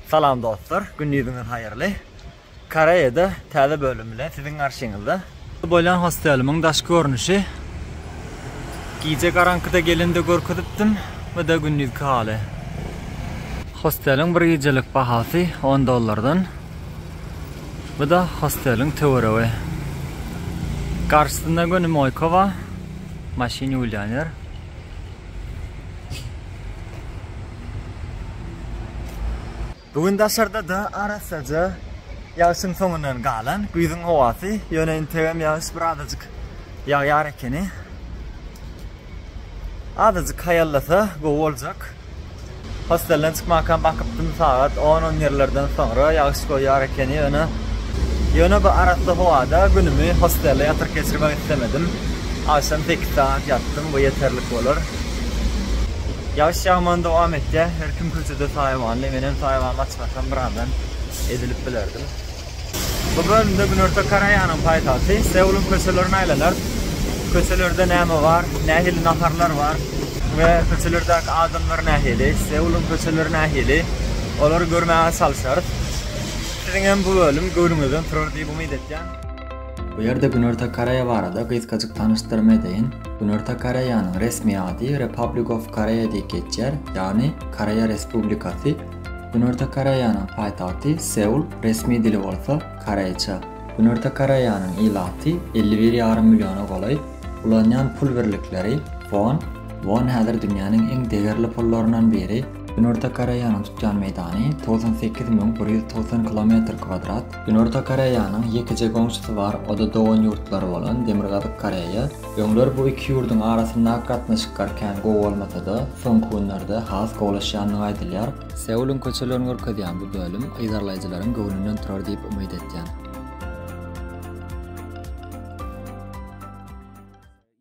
Salam dostlar, gündiziňiz haýyrly. Koreýada täze bölüm bilen siziň garşyňyzda. Bolýan hostelimiň daşky görnüşi. Gije garaňkyda gelende görkezipdim we de gündizki haly. Hosteliň bir gijelik bahasy on dollardan. Bu da hosteliň töweregi. Garşysynda göni moýka ba, maşyn ýuwulýan ýer. Bu gün daşarda-da arassaja ýagşyň soňundan galan güýzüň howasy, ýöne integem ýagyş bir azajyk ýagýar ekeni. Azajyk haýallasa gowy boljak. Hostelden çykmakam bakypdym, sagat on-on ýerlerden soňra ýagyş goýýar ekeni, ýöne ýöne bu arassa howada günümi hostelde ýatyryp geçirmek islemedim. Agşam sekiz sagat ýatdym, bu ýeterlik bolar. Ýagyş ýagmany dowam etýär. Her kim köçede saýawanly. Menem saýawanymy açypbarsam birazdan ezilip bilerdim. Bu bölümde Günorta Koreýanyň paýtagty Seulyň köçelerini aýlanar. Köçelerde näme bar, nähili naharlar bar we köçelerdäki adamlar nähili, Seulyň köçeleri nähili, olary görmäge çalyşarys. Siziň hem bu bölüm göwnüňizden turar diýip umyt etýän. Bu ýerde Günorta Koreýa barada gysgajyk tanyşdyrma edeýin. Günorta Koreýanyň resmi ady Republic of Korea diýip geçýär, ýagny Koreýa Respublikasy. Günorta Koreýanyň paýtagty Seul, resmi dili bolsa koreýçe. Günorta Koreýanyň ilaty elli bir ýarym milliona golaý. Ulanýan pul birlikleri, won. Won häzir dünýäniň iň degerli pullaryndan biri. Günorta Koreýanyň tutýan meýdany togsan sekiz müň bir ýüz togsan kilometr kwadrat. Günorta Koreýanyň ýekeje goňşusy bar, o-da dogan ýurtlary bolan Demirgazyk Koreýa. Öňler bu iki ýurduň arasyndaky gatnaşyklar kän gowy bolmasa-da, soňky günlerde has gowulaşýandygy aýdylýar. Seulyň köçelerini görkezýän bu bölüm yzarlaýjylaryň göwnünden turar diýip umyt etýän.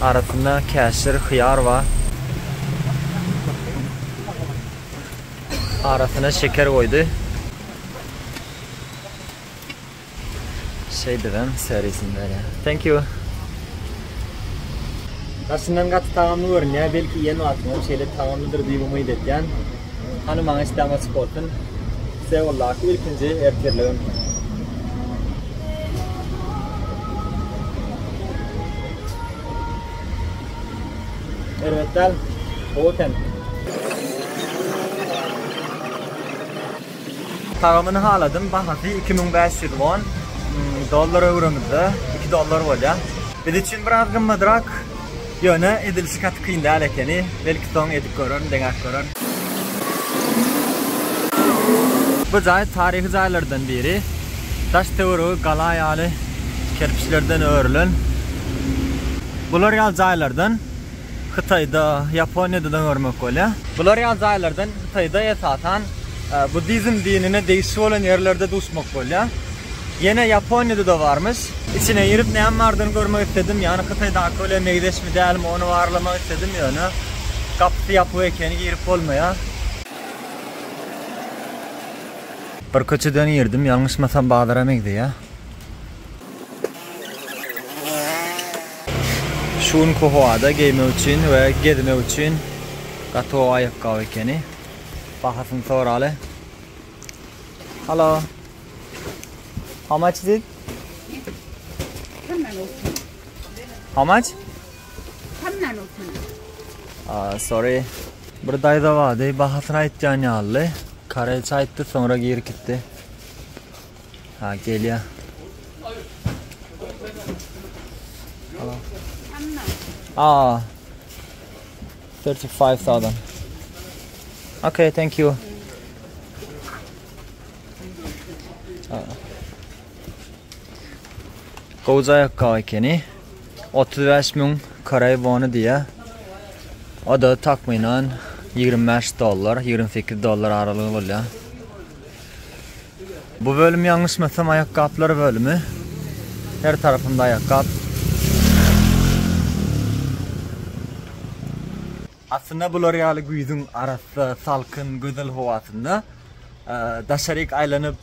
Arasynda käşir, hyýar bar. Arasyna şeker goýdy. Şeýdibem serisini berýär. Thank you. Daşyndan gaty tagamly görünýär, belki iýen wagtyňam şeýle tagamlydyr diýip umyt edýän. Hany maňa isläm açyk bolsun. Seuldaki ilkinji ertirligim. Erbet däl. Gowy eken. Tagamyny haladym. Bahasy 2500 won. Hmm, dollar öwrümizde 2 dollar bolýar. Biz üçin biraz gymmadrak. Ýöne edilişi gaty kyn däl ekeni. Belki soň edip görerin, deňäp görerin. Bu jaý taryhy jaýlardan biri. daş-töweregi gala ýaly kerpiçlerden örülen. Bular ýaly jaýlardan Hytaýda, Ýaponiýada-da görmek bolýar. Bular ýaly jaýlardan Hytaýda esasan buddizm dinine degişli bolan ýerlerde duşmak bolýar. Ýene Ýaponiýada-da barmyş. Içine girip näme bardygyny görmek isledim. Ýagny Hytaýdaky bilen meňzeşmi, dälmi ony barlamak isledim, ýöne gapysy ýapyk ekeni girip bolmaýar. Bir köçeden girdim ýalňyşmasam bazara meňzeýä. Şu günki howada geýmek üçin we gezmek üçin gaty gowy aýakgaby ekeni. Bahasyny soraly. Hello. How much is it? How much? Tamdan otyny. Aa, sorry. Bir daýza bardy, bahasyny aýtýan ýaly. Kareýçe aýtdy, soňra girip gitdi. Ha, gelýä. Aa. 35,000. Okay, thank you. Gowy aýakgap ekeni. Otuz bäş müň koreý wony diýýär. O-da takmynan ýigrimi bäş dollar, ýigrimi sekiz dollar aralygy bolýar. Bu bölüm ýalňyşmasam aýakgaplar bölümi. Her tarapymda aýakgap. Aslynda bular ýaly güýzüň arassa, salkyn, gözel howasynda daşaryk aýlanyp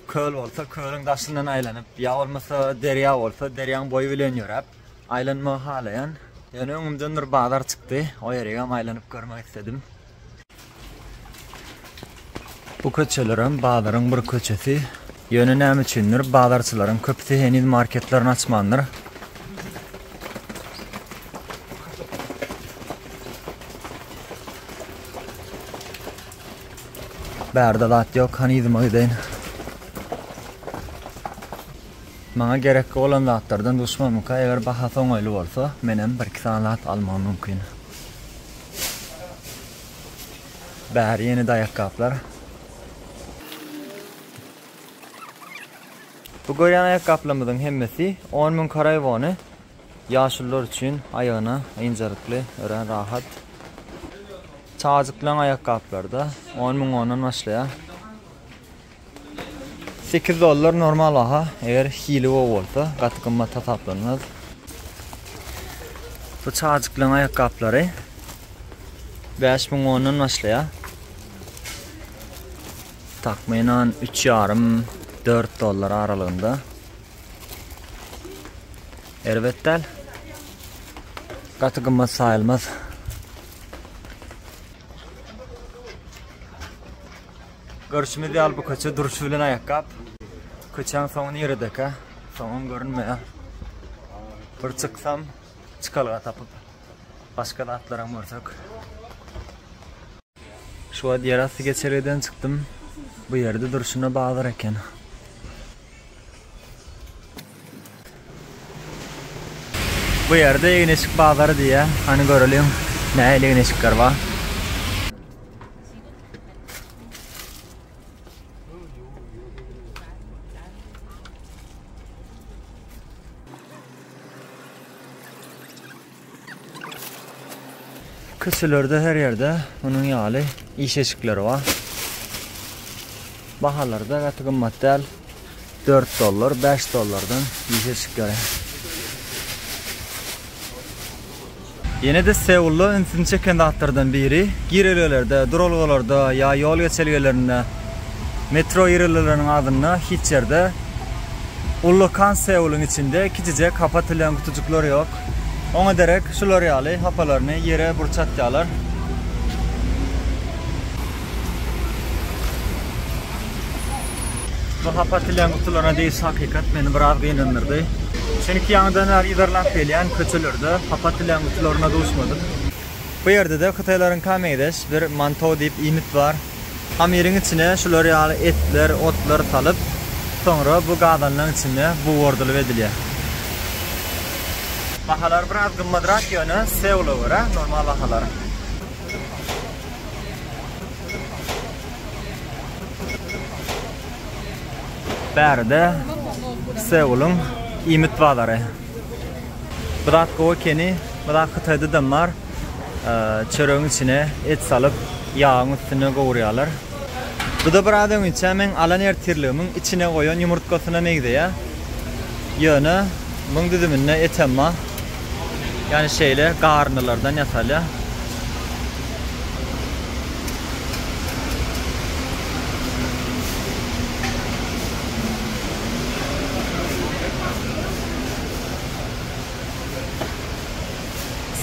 Köl bolsa kölüň daşyndan aýlanyp, ýa bolmasa derýa bolsa derýaň boýy bilen ýöräp, aýlanmagy halaýan. Ýöne öňümden bir bazar çykdy, o ýeregem aýlanyp görmek isledim. Bu köçelerem bazaryň bir köçesi. Ýöne näme üçindir, bazarçylaryň köpüsi heniz marketlerini açmandyr. Bärde zat ýok, hany yzyma gideýin. Maňa gerekli bolan zatlardan duşmanymyka eger bahasy oňaýly bolsa, menem bir-iki sany zat almagym mümkin. Bäri ýene-de aýakgaplar. Bu görýän aýakgaplarymyzyň hemmesi on müň karaiwony. Ýaşulular üçin aýagyna ynjalykly örän rahat. Çagajyklaryň aýakgaplary-da on müň wondan başlaýar. Sekiz dollar normal baha, eger hili gowy bolsa, gaty gymmat hasaplanmaz. Bu çagajyklaryň aýakgaplary bäş müň wondan başlaýar. Takmynan üç ýarym, dört dollar aralygynda. Erbet däl. Gaty gymmat saýylmaz. Görüşimiz ýaly bu köçe duruşy bilen aýakgap. Köçäň soňy niredeka? Soňum görünmeýär. Bir çyksam, çykalga tapyp, başga zatlaram görsek. Şu wagt ýerasty geçelgeden çykdym. Bu ýerde durşuna bazar eken. Bu ýerde egin-eşik bazary diýýär. Hany göreliň, nähili egin-eşikler bar. Küçülerde her ýerde munuň ýaly iş eşikleri bar. Bahalary-da gaty gymmat däl. Dört dollar, bäş dollardan iş eşikleri. Ýene-de Seulda ünsüni çeken zatlardan biri, girelgelerde, duralgalarda ýa ýol geçelgelerinde, metro girelgeleriniň agzynda hiç ýerde ullakan Seuluň içinde kiçijek hapa atylan gutujyklar ýok. Oňa derek şular ýaly hapalaryny ýere burç atýarlar. Bu hapa atilen gutularyna diýiş hakykat meni biraz gynandyrdy. Çünki ýaňydan bäri yzarlap gelýän köçelerde hapa atilen gutularyna duşmadym. Bu ýerde-de hytaýlaryňka meňzeş bir Mantou diýip iýmit bar. Hamyryň içine şular ýaly etler, otlar salyp, soňra bu gazanlaň içinde bugardylyp edilýär. Bahalar biraz gymmadrak ýöne Seula görä normal bahalar. Bäride Seuluň iýmit bazary. Biraz gowy ekeni, biraz hytaýdadam bar. Çöregiň içine et salyp, ýagyň üstünde gowurýarlar. Bu-da biraz öňinçä meň alan ertirligimiň içine goýan ýumurtgasyna meňzeýär. Ýöne muň düzüminde etem bar. Ýani şeýle garyndylardan ýasalýar.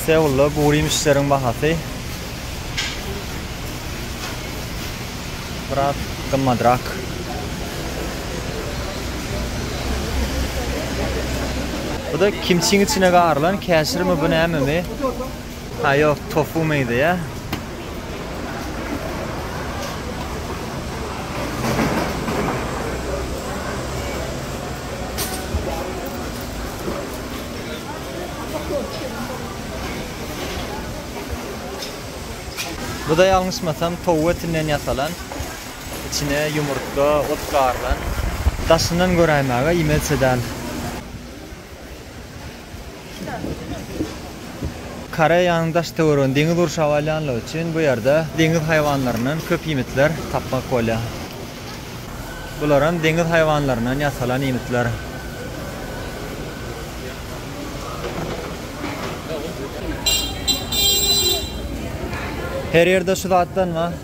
Seulda bu ýemişleriň bahasy biraz gymmadrak. Bu da kimçiň içine garylan käşirmi bu nämemi? Ha yok tofu miydi ya. Bu da ýalňyşmasam towuk etinden ýasalan. İçine ýumurtga, ot garylan. Daşyndan göräýmäge iýmezçe däl. Koreýanyň daş-töweregini deňiz gurşap alýanlygy üçin bu ýerde deňiz haýwanlaryndan köp iýmitler tapmak bolýar. Bularam deňiz haýwanlaryndan ýasalan iýmitler. Her ýerde şu zatdan bar.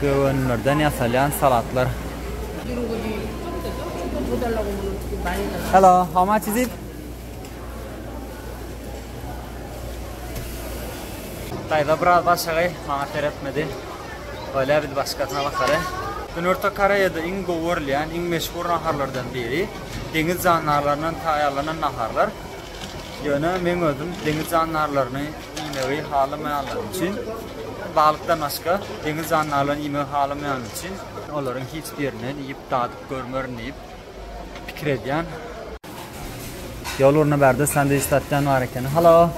Göwünlerden ýasalýan salatlar. Hello, how much is it? Daýza biraz başagaý, maňa seretmedi. Öyle biz başkasyna bakary. Günorta Koreýada iň gowy görülýän, iň meşhur naharlardan biri deňiz jandarlaryndan taýýarlanan naharlar. Ýöne men özüm deňiz jandarlaryny iýmegi halamaýanlar üçin, balykdan başga deňiz jandarlaryny iýmegi halamaýanlar üçin, olaryň hiç birini iýip dadyp görmerin diýip pikir edýän. Ýol ugruna bärde sandwich satýan bar ekeni. Hello.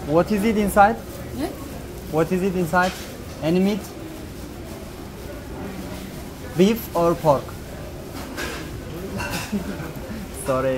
What is it inside? What is it inside? Any meat? Beef or pork? Sorry.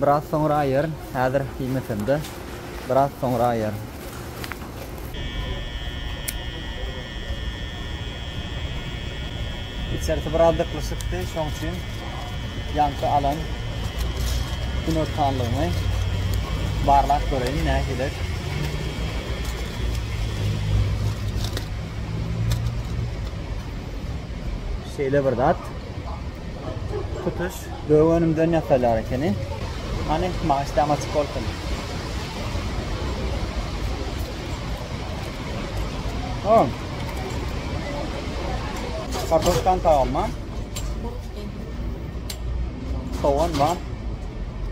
Biraz soňra aýaryn, häzir iýmesemde, biraz soňra aýaryn. Içerisi biraz dyklyşykdy, şoň üçin ýaňky alan günortanlygymy barlap göreýin, nähili. Şeýle bir zat. Tutuş Gök önümden ýasaýlar ekeni. Hany, maňa işdäm açyk bolsun. Oň. Kartoşkan taýam bar. Sogan bar.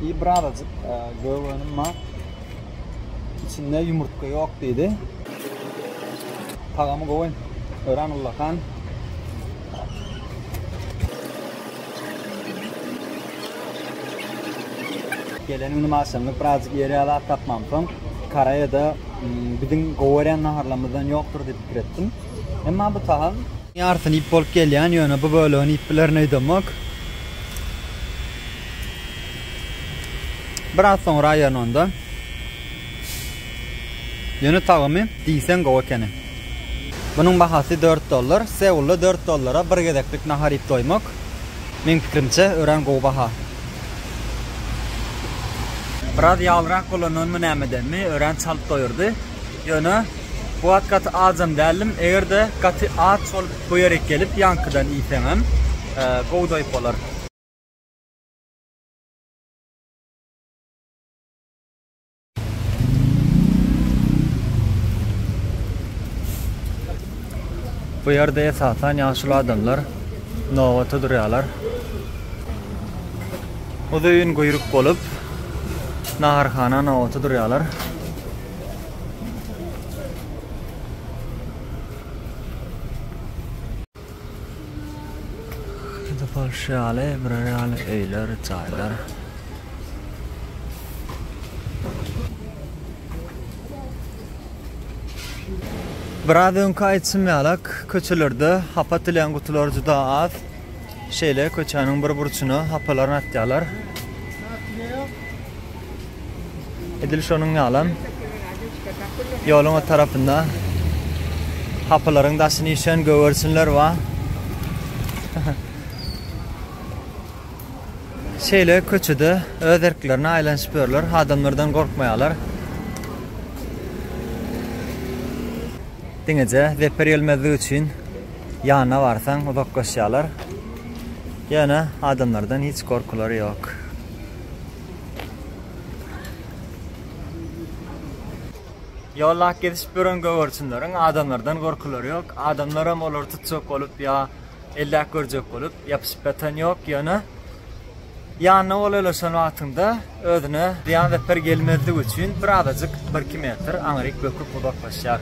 İyi birazcık e, gök önüm bar. İçinde yumurtga yok dedi. Tagamı gowy. Ören Ullakan. Geleniň nime aşamlyk birazjyk ýer ýalap tapmamsoň, Karaýa-da biziň gowerýän naharlarymyzdan ýokdur diýip pikir etdim. Emma bu tagam. Ýarysyny iýip bolup gelýän, ýöne bu bölegini iýip bilerin öýdemok. Biraz soňra aýyryn onda. Ýöne tagymy diýseň gowy ekeni. Munuň bahasy dört dollar. Seulda dört dollara bir gezeklik nahar iýip doýmak, meň pikirimçe, örän gowy baha. Biraz ýalyrak bolandanmy nämedenmi, örän çalt doýurdy. Ýöne bu wagt gaty ajam däldim. Eger-de gaty aç bolup bu ýere gelip ýaňkydan iýseňem, gowy doýup bolar. Bu ýerde esasan ýaşuly adamlar nobata durýarlar. Uzyn guýruk bolup naharhana nobata durýarlar. Gidip alşy ýaly, birer ýaly öýler, jaýlar. Biraz öňki aýtşym ýalak, köçelerde hapa atylan gutular juda az. Şeýle köçäniň bir burçuna hapalarny atýarlar. Edil şonuň ýalam, ýoluň o tarapynda hapylaryň daşyny işen gögerçinler bar. Şeýle köçede öz erklerine aýlanyşyp ýörler, adamlardan gorkmaýarlar. Diňeje zeper gelmezlik üçin ýanyna barsaň uzaklaşýarlar. Ýöne adamlardan hiç gorkulary ýok. Ýollap gezişip ýören gögerçinleriň adamlardan gorkulary ýok. Adamlaram olary tutjak bolup ýa elläp görjek bolup ýapyşyp ýatan ýok. Ýöne ýanyna golaýlaşan wagtyňda özüne zyýan zeper gelmezligi üçin birazajyk birki metr aňryk böküp uzaklaşýar.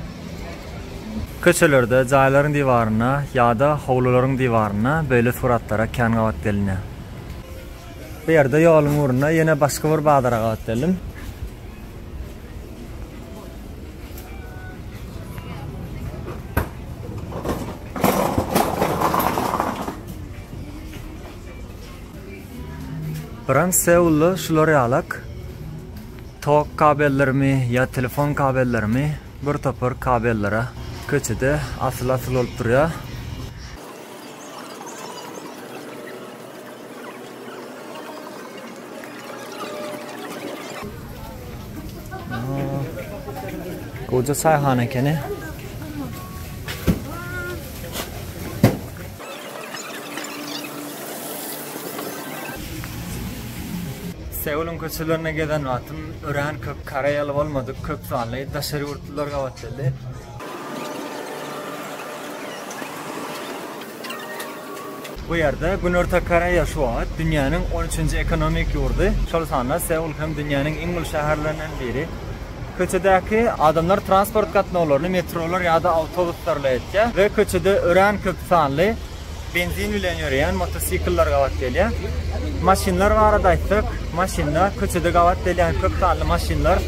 Köçelerde, jaýlaryň diwarynda ýa-da howlularyň diwarynda beýle suratlara kän gabat gelinýär. Bu ýerde ýoluň ugrunda ýene başga bir bazara gabat geldim. Biran Seulda şular ýalak. Tok kabellerimi ýa telefon kabellerimi bir topar kabellere köçede asyl-asyl bolup durýar. Goja çaýhana ekeni. Seulun köçelerine gezen wagtym ören köp koreýaly bolmadyk, köp sanly daşary ýurtlular gabat geldi. Bu ýerde Günorta Koreýa şu wagt dünýäniň on üçünji ekonomik ýurdy, şol sanda Seul hem dünýäniň iň uly şäherlerinden biri. Köçedäki adamlar transport gatnawlaryny metrolar ýa-da awtobuslarla etýär we köçede örän köp sanly benzin bilen ýöreýän motosikller gabat gelýär. Maşynlar barada aýtsak, Maşynlar, köçede gabat gelýän köp sanly maşynlar,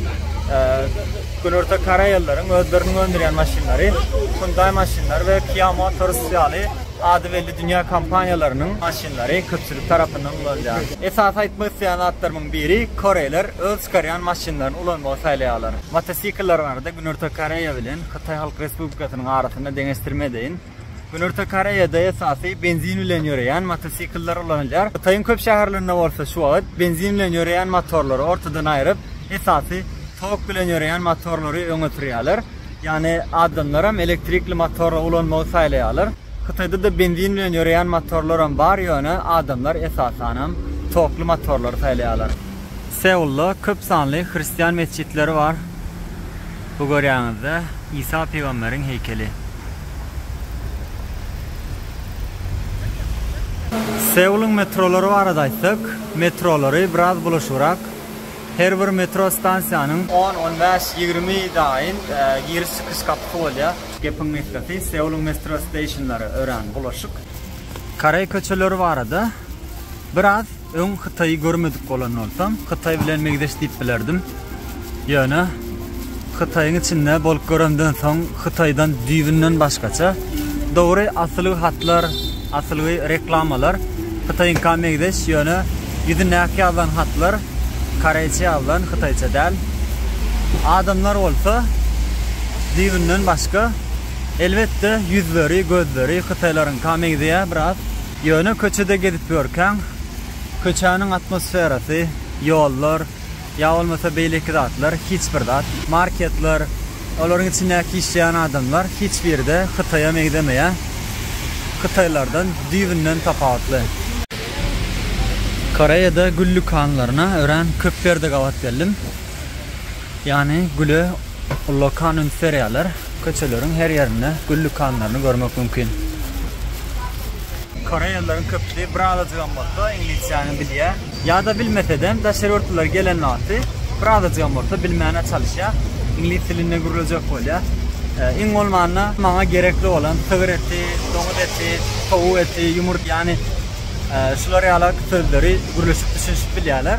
Günorta Koreýalylaryň özleriniň öndürýän maşynlary, Hyundai maşynlary we Kia Motors ýaly ady belli dünýä kompaniýalarynyň maşynlary köpçülik tarapyndan ulanylýar. Esasy aýtmak isleýän zatlarymyň biri, koreýler öz çykarýan maşynlaryny ulanmagy saýlaýarlar. Motosiklleriň arada Günorta Koreýa bilen Hytaý Halk Respublikasynyň arasynda deňeşdirme edeýin. Günorta Koreýada esasy benzin bilen ýöreýän motosikllar ulanylýar. Hytaýyň köp şäherlerinde bolsa şu wagt benzin bilen ýöreýän motorlary ortadan aýryp, esasy tok bilen ýöreýän motorlary öňe sürýärler. Ýagny adamlaram elektrikli motory ulanmagy saýlaýarlar. Hytaýda-da benzin bilen ýöreýän motorlaram bar, ýöne adamlar esasanam tokly motorlary saýlaýarlar. Seulda köp sanly hristian metjitleri bar. Bu görýäňizde Isa pygamberiň heýkeli. Seulyň metrolary barada aýtsak, metrolary biraz bulaşygrak. Her bir metro stansiýanyň. On, on bäş, ýigrimi daýyn giriş-çykyş gapysy bolýar. Gepiň gysgasy, Seulyň metrosteisionlary örän bulaşyk. Koreý köçeleri barada biraz. Öň Hytaýy görmedik bolan bolsam, Hytaý bilen meňzeş diýip bilerdim. Ýöne Hytaýyň içinde bolup göremden soň, Hytaýdan düýbünden başgaça. Dogry, asylgy hatlar, asylgy reklamalar Hytaýyňka meňzeş, ýöne ýüzündäki ýazylan hatlar koreýçe ýazylan, hytaýça däl. Adamlar bolsa düýbünden başga. Elbetde, ýüzleri, gözleri hytaýlaryňka meňzeýär biraz. Ýöne köçede gezip ýörkäň, köçäniň atmosferasy, ýollar, ýa bolmasa beýleki zatlar, hiç bir zat, marketler, olaryň içindäki işleýän adamlar hiç biri-de Hytaýa meňzemeýär. Hytaýlardan düýbünden tapawutly. Koreýada gül dükanlaryna örän köp ýerde gabat geldim. Ýany güle ullakan üns berýärler. Köçeleriň her ýerinde gül dükanlaryny görmek mümkin. Koreýalylaryň köpüsi bir azajygam bolsa iňlisçäni bilýär. Ýa-da bilmesedem, daşary ýurtlular gelen wagty bir azajygam bolsa bilmäne çalyşýar. Iňlis dilinde gürlejek bolýar. Iň bolmanda maňa gerekli bolan sygyr eti, doňuz eti, towuk eti, ýumurtga ýany şular ýalak sözleri gürleşip düşünişip bilýärler.